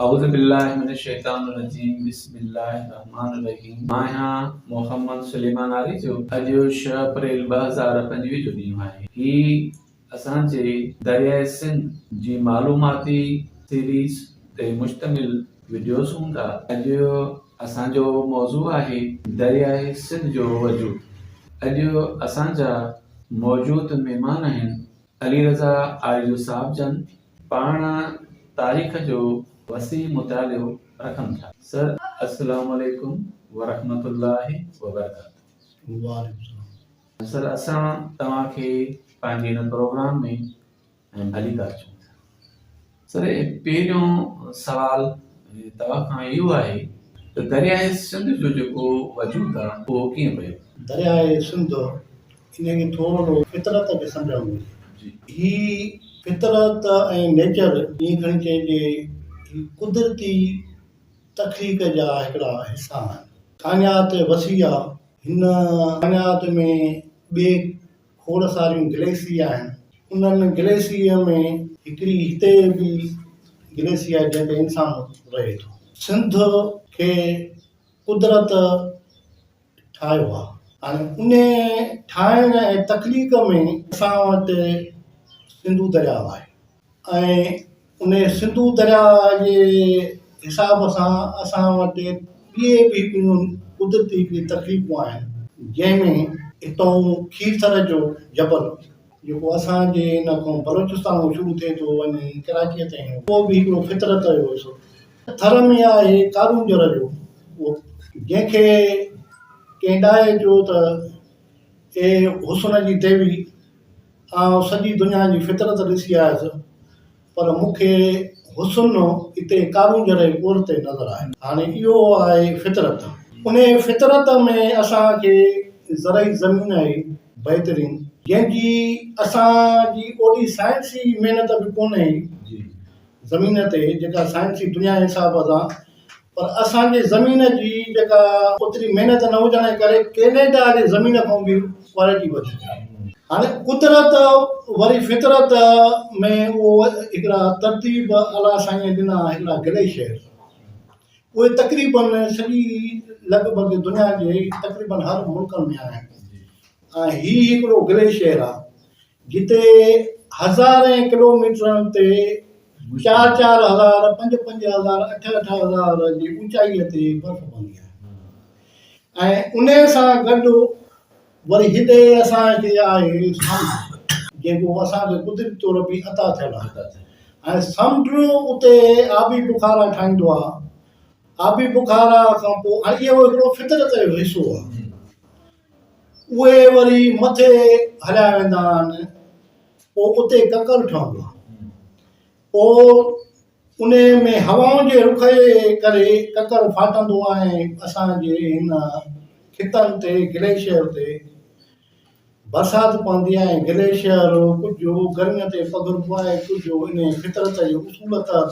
اعوذ بالله من الشيطان الرجيم بسم الله الرحمٰن الرحيم آهيان محمد سليمان عاري جو اڄ شھ اپريل ٻه هزار پنجويهه جو ڏينهن آهي هي اسان جي درياء سنڌ جي معلوماتي سيريز تي مشتمل وڊيوز هوندا اڄ اسان جو موضوع آهي درياء سنڌ جو وجود اڄ اسان جا موجود مهمان آهن علي رضا آريجو صاحب جن پاڻ تاريخ جو وسيع مطالعو رکن ٿا. سر اسلام عليڪم ورحمة الله وبرڪاته. سر اسان توهان کي پنهنجي هن پروگرام ۾ ڀلي ڪار چئون ٿا. سر پهريون سوال توهان کان اهو آهي ته درياء سنڌ جو جيڪو وجود آهي اهو ڪيئن پيو؟ درياء سنڌ انهيء کي ٿورو سو فطرت به سمجهڻ گهرجي. هي فطرت ۽ نيچر ائين کڻي چئجي هي قدرتي تخليق جا هڪڙا حصا آهن. ڪائنات وسيع آهي هن ڪائنات ۾ ٻئي کوڙ ساريون گليسي آهن. انهن گليسي ۾ هڪڙي هتي به گليسي آهي جنهن تي انسان رهي ٿو. سنڌ کي قدرت ٺاهيو آهي. هاڻي انهي ٺاهڻ ۽ تخليق ۾ اسان وٽ سنڌو درياء آهي. ۽ انهيء سنڌو درياء جي حساب سان اسان وٽ ٻيئي به ٻيون قدرتي به تڪليفون آهن، جنهن ۾ هتئون کيرٿر جو جبل، جيڪو اسان جي ان کان بلوچستان مون شروع ٿئي ٿو وڃي ڪراچيء تائين، اهو به هڪڙو فطرت جو حصو ٿر ۾ آهي ڪارونجهر جو اهو، جنهن کي ڪنهن ڏاهي چيو ته اي حسن جي ديوي! آئون سڄي دنيا جي فطرت ڏسي آيس پر مون کي حسن اتي ڪارون جھڙي ڳور تي نظر آيو. هاڻي اهو آهي فطرت. انهيء فطرت ۾ اسان کي زرعي زمين آهي بهترين. جنهن جي اسان جي اوڏي سائنسي محنت به ڪونهي زمين تي جيڪا سائنسي دنيا جي حساب سان پر اسان جي زمين جي جيڪا اوتري محنت نه هجڻ جي ڪري ڪينيڊا جي زمين کان به ڪوالٽي وڌيڪ آهي. هاڻي قدرت وري فطرت ۾ اهو هڪڙا ترتيب الله سائينء ڏنا هڪڙا گليشيئر اهي تقريبن سڄي لڳ ڀڳ دنيا جي تقريبن هر ملڪن ۾ آهن ۽ هي هڪڙو گليشيئر آهي جتي هزارين ڪلوميٽرن تي چار چار هزار، پنج پنج هزار، اٺ اٺ هزار جي اوچائيء تي برف پوندي آهي ۽ انهيء سان گڏ وري هتي اسان کي آهي سمنڊ، جيڪو اسان کي قدرتي طور به عطا ٿيل آهي ۽ سمنڊ اتي آبي بخارا ٺاهيندو آهي، آبي بخارا کان پوء ۽ اهو هڪڙو فطرت جو حصو آهي. اهي وري مٿي هليا ويندا آهن پوء اتي ڪڪر ٺهندو آهي پوء انهي ۾ هوائن جي رخ جي ڪري ڪڪر ڦاٽندو آهي اسان جي هن خطن تي گليشيئر تي برسات پوندي آهي گليشيئر ڪجهه گرمين تي پگهربو آهي ڪجهه انهي فطرت جي اصول تحت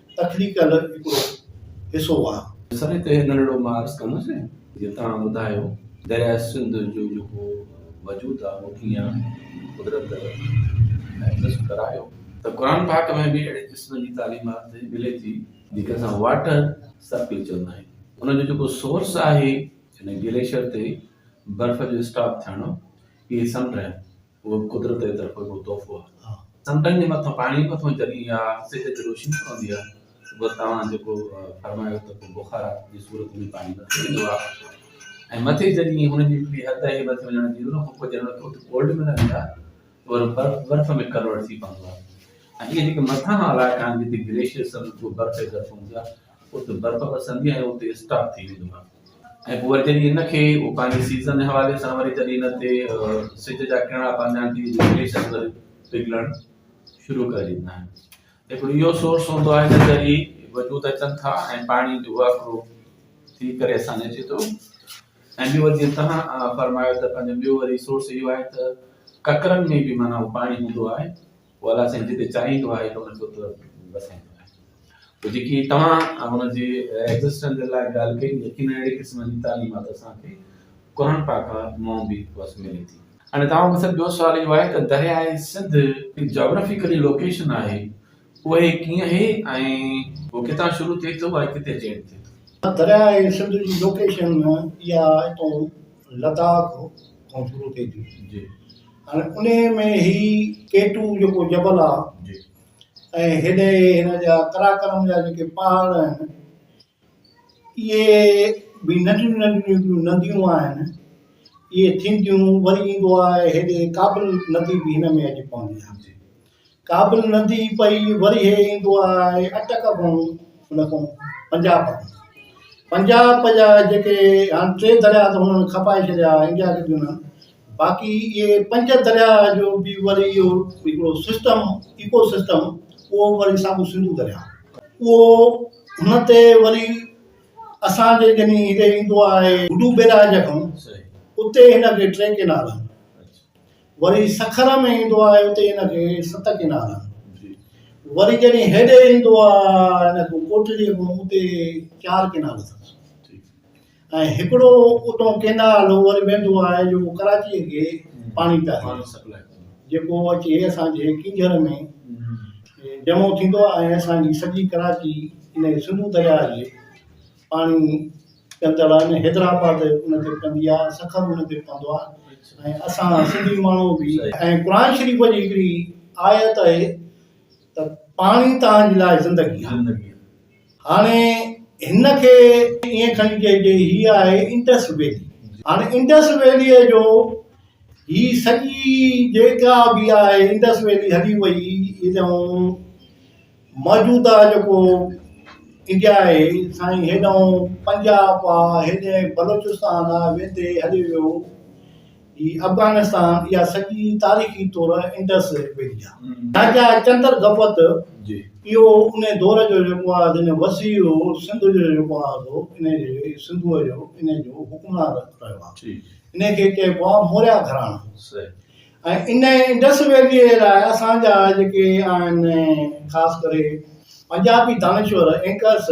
تخليق ڪا الڳ هڪڙو حصو آ. سري تي هڪ ننڍڙو مان عرض ڪندس جي توهان ٻڌايو درياء سنڌ جو جيڪو وجود آ اهو ڪيئن قدرت ۽ نصب ڪرايو ته قرآن پاڪ ۾ به اهڙي قسم جي تعليمات ملي ٿي جنهن کي اسان واٽر سرڪل چوندا آهيون ان جو جيڪو سورس آهي ان گليشر تي برف جو اسٽاپ ٿيڻ اهي سمنڊ آهن. اهو به قدرت جي طرفان هڪڙو تحفو آهي. سمنڊن جي مٿان پاڻي مٿان جڏهن اها سج تي روشني پوندي آهي ته پوء توهان جيڪو فرمايو ته پوء بخارات جي صورت ۾ پاڻي مٿي ويندو آهي ۽ مٿي جڏهن هن جي هڪڙي حد آهي مٿي وڃڻ جي ان کان پوء جڏهن اتي ڪولڊ ۾ لهندي آهي ته وري برف برف ۾ ڪنورٽ ٿي پوندو آهي ۽ اهي جيڪي مٿانهان علائقا آهن جتي گليشيئرس آهن اتي برف ئي برف هوندي آهي. اتي برف وسندي ۽ اتي اسٽاپ ٿي ويندو آهي ۽ پوء وري جڏهن ان کي هو پنهنجي سيزن جي حوالي سان وري جڏهن ان تي سج جا ڪرڻا پوندا آهن ته گليشيئر وري پگھلڻ شروع ڪري ڏيندا آهن هڪڙو اهو سورس هوندو آهي جنهن ذريعي وجود اچن ٿا ۽ پاڻي جو واڪرو ٿي ڪري اسان ۾ اچي ٿو ۽ ٻيو وري جيئن تنهن فرمايو ته پنهنجو ٻيو وري سورس اهو آهي ته ڪڪرن ۾ به معنيٰ پاڻي هوندو آهي والا سائين جتي چاهين تو آهي ته ان جو ته بس سائين تو آهي تو جيڪي توهان ان جي ايگزسٽنس جي لاء ڳالهه ڪئي يقين اهڙي قسم جي تعليمات اسان کي قرآن پاڪ مون به بس ملي ٿي. هاڻي توهان مون سان ٻيو سوال اهو آهي ته درياء سنڌ جاگرافيڪلي لوڪيشن آهي اهي ڪيئن هي ۽ هو ڪٿان شروع ٿئي ٿو ۽ ڪٿي جينٽ ٿئي ٿو. درياء سنڌ جي لوڪيشن اها اتو لداخ کان شروع ٿئي ٿي جي ھاڻي انھي ۾ ھي ڪيٽو جيڪو جبل آ جي ۽ ھيڏي ھن جا قراقرم جا جيڪي پھاڙ آھن اھي بي ننڍيون ننڍيون نديون آھن اھي ٿينديون وري ايندو آھي ھيڏي ڪابل ندي بي ھن ۾ اچي پوندي آھي ڪابل ندي پئي ورهيه ايندو آهي اٽڪ کان ان کان پنجاب پنجاب جا جيڪي هاڻي ٽي درياء ته هنن کپائي ڇڏيا انڊيا کي ڏنا باقي اهي پنج درياء جو به وري اهو هڪڙو سسٽم ايڪو سسٽم اهو وري ساڳو سنڌو درياء اهو هن تي وري اسانجي جني هتي ايندو آهي گڊو بيراج کان اتي هن کي ٽي ڪينال آهن وري سکر ۾ ايندو آهي اتي هن کي ست ڪنال وري جڏهن هيڏي ايندو آهي هن کي ڪوٽڙي ۾ اتي چار ڪنال اٿس ۽ هڪڙو اتو ڪنال وري ويندو آهي جو ڪراچي کي پاڻي پيا پاڻي سپلائي جيڪو اچي اسان جي ڪنجر ۾ جمع ٿيندو آهي اسان جي سڄي ڪراچي ان سنڌو درياء جي پاڻي پيتل آهي نه حيدرآباد ان تي پندي آهي سکر ان تي پندو آهي ۽ اسان سنڌي ماڻهو به ۽ قرآن شريف جي هڪڙي آيت آهي ته پاڻي توهان جي لاء زندگي آهي هاڻي هن کي ائين کڻي چئجي هي آهي انڊس ويلي هاڻي انڊس ويلي جو هي سڄي جيڪا به آهي انڊس ويلي هلي وئي موجوده جيڪو انڊيا آهي سائين هيڏانهن پنجاب آهي هيڏي بلوچستان آهي ويندي هلي ويو هي افغانستان يا سڄي تاريخي طور انڊس ويلي آهي راجا چندر گپت جي اهو ان دور جو جيڪو آهي جن وسيع هو سنڌ جو جيڪو آهي سو ان جي سنڌو جو ان جو حڪمران رهيو آهي ان کي چئبو آهي موريا گھراڻو ۽ انهيء انڊس ويليء جي لاء اسان جا جيڪي آهن خاص ڪري پنجابي دانشور اينڪرس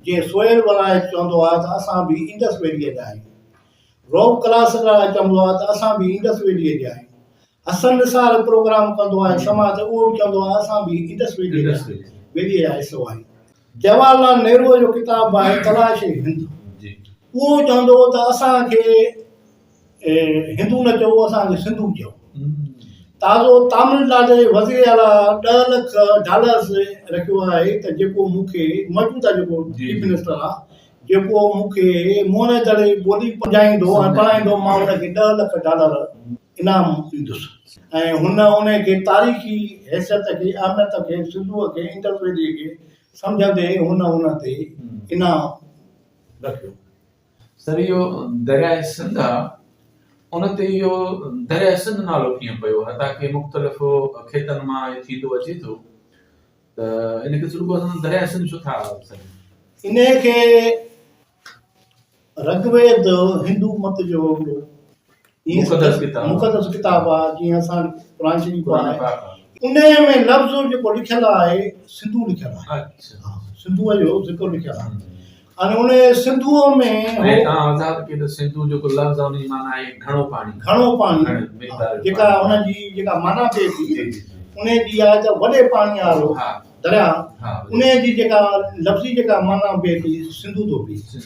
جيئن سهيل ولايت چوندو آهي ته اسان به انڊس ويليء جا آهيون روب ڪلاسڪرا چوندو آهي ته اسان به انڊس ويليء جا آهيون حسن نثار پروگرام ڪندو آهي سما ته اهو به چوندو آهي اسان به انڊس ويليء جا انڊس ويليء ويليء جا حصو آهيون جواهر لال نهروء جو ڪتاب آهي تلاش هند اهو چوندو هو ته اسان کي هندو نه چئو اسان کي سنڌو چئو. تازو تامل ناڊو جي وزير اعليٰ ڏهه لک ڊالرز رکيو آهي ته جيڪو مون کي موجوده جيڪو چيف منسٽر آهي جيڪو مون کي مون دڙي ٻولي سمجهائيندو ۽ پڙهائيندو مان ان کي ڏهه لک ڊالر انعام ڏيندس ۽ هن ان کي تاريخي حيثيت کي اهميت کي سنڌوء کي انڊس ويلي کي سمجهندي هن ان تي انعام رکيو. سريو درياء سنڌ آ ان تي اهو درياء سنڌ نالو ڪيئن پيو حتا ڪي مختلف کيتن مان ٿيندو اچي ٿو ته ان کي سرگو سنڌ درياء سنڌ ڇو ٿا سڏين ان کي رگويد هندو مت جو هي مقدس ڪتاب مقدس ڪتاب آ جيئن اسان قرآن شريف آ ان ۾ لفظ جيڪو لکيل آهي سنڌو لکيل آهي سنڌو جو ذڪر لکيل آهي ان ان سنڌو ۾ هي تان آزاد ڪي ته سنڌو جيڪو لفظ آ ان جي معنی آهي گھڻو پاڻي گھڻو پاڻي جيڪا ان جي جيڪا معنی ٿئي ٿي ان جي آ ته وڏي پاڻي وارو درياء انهيء جي جيڪا لفظي جيڪا معنيٰ بيهي ٿي سنڌو ٿو بيهي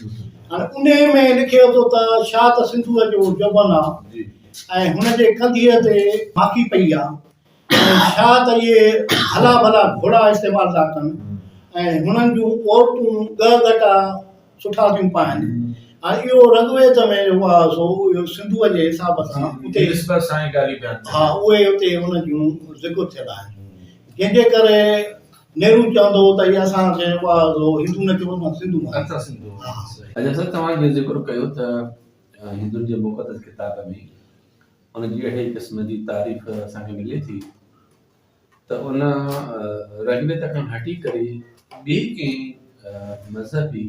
هاڻي انهيء ۾ لکي اٿو ته شاهه ته سنڌوء جو جوڀن آهي ۽ هن جي ڪنڌيء تي ماکي پئي آهي ۽ شاهه ته اهي هلا ڀلا گهوڙا استعمال ٿا ڪن ۽ هنن جون عورتون ڳهه ڳٽا سٺا ٿيون پائن ۽ اهو رگ ويد ۾ جيڪو آهي سو اهو سنڌوء جي حساب سان اتي نسبت سان ئي ڳالهيون بيان ٿيون. ها اهي اتي ان جون ذڪر ٿيل آهن جنهن جي ڪري نهرو چوندو هو ته هي اسان کي جيڪو آهي سو هندو نه چئبو اسان سنڌو آهيون. اسان سنڌو آهيون. ها. صحيح. اجهه صاحب توهان جيئن ذڪر ڪيو ته هندن جي مقدس ڪتاب ۾ ان جي اهڙي قسم جي تعريف اسان کي ملي ٿي ته ان رڳويد کان هٽي ڪري ٻي ڪنهن مذهبي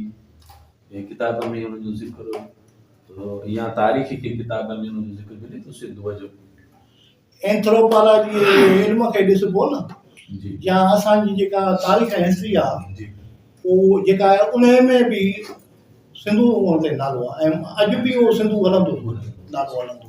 ڪتاب ۾ ان جو ذڪر يا تاريخي ڪنهن ڪتاب ۾ ان جو ذڪر ملي ٿو سنڌوء جو؟ اينٿروپالاجيء جي علم کي ڏسبو نه يا اسان جي جيڪا تاريخ ۽ هسٽري آ اهو جيڪا آهي انهيء ۾ به سنڌو هئڻ تي نالو آ ۽ اڄ به اهو سنڌو هلندو نالو هلندو.